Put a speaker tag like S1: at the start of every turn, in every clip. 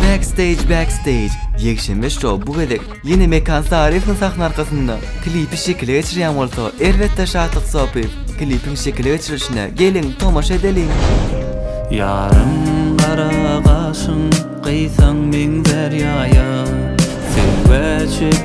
S1: Backstage Backstage ýekşenbe şou bu gezek ýene Mekan Saryýewiň sahna arkasynda klipi şekile geçirýän bolsa elbetde Şatlyk Sopyýew klipiň şekile geçirilişine geliň tomaşa edeliň. Ýarym
S2: gara gaşyň gyýsaň meňzär ýaýa, söýgä çek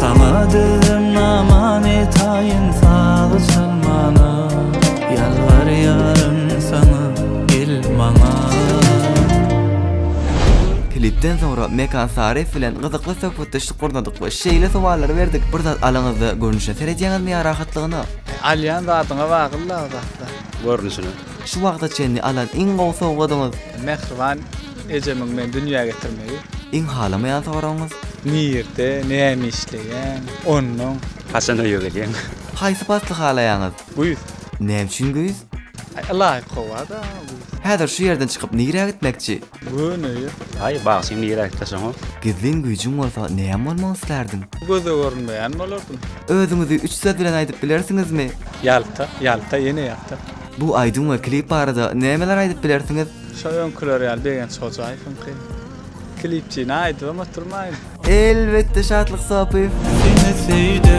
S2: Saňa dilden aman etaýyn sag salmana Ýalbarýaryn saňa gel maňa.
S1: Klipden soňra Mekan Saryýew bilen gyzykly söhbetdeşlik gurnadyk we şeýle sowallary berdik, Bir zat alyňyzda görnüşe seredýäňizmi ýa rahatlygyna? Alýan zadyňa
S3: bagly agzakda. Görnüşine.
S4: Şu wagta
S1: çenli alan iň gowy sowgadyňyz? Mähriban
S3: ejemiň meni dünýä getirmegi. Iň halamaýan
S1: soragyňyz? Nirde,
S3: näme işleýäň? Onnoň. Haçan öýe gelýäň?
S4: Haýsy pasly
S1: halaýaňyz? Güýz.
S3: Näme üçin güýz?
S1: Ylaýyk
S3: howa-da güýz. Häzir şu
S1: ýerden çykyp nirä gitmekçi? Göni ýer.
S3: Aý, bagşy
S4: indi ýer aýdyp taşaňok. Gizlin güýjüň
S1: bolsa näm bolmak islerdin? Göze görünmeýän
S3: bolardym. Özüňizi üç
S1: söz bilen aýdyp bilersiňizmi? Ýalta, ýalta,
S3: ýene ýalta. Bu aýdym we
S1: klip barada nämeler aýdyp bilersiňiz? Şo öňküler ýaly
S3: Begenç Hojaýewiňki. Klipçini aýdybam
S2: oturmaýyn.
S3: Elbetde
S1: Şatlyk
S3: Sopyýew.
S2: Seni
S1: söýdüm.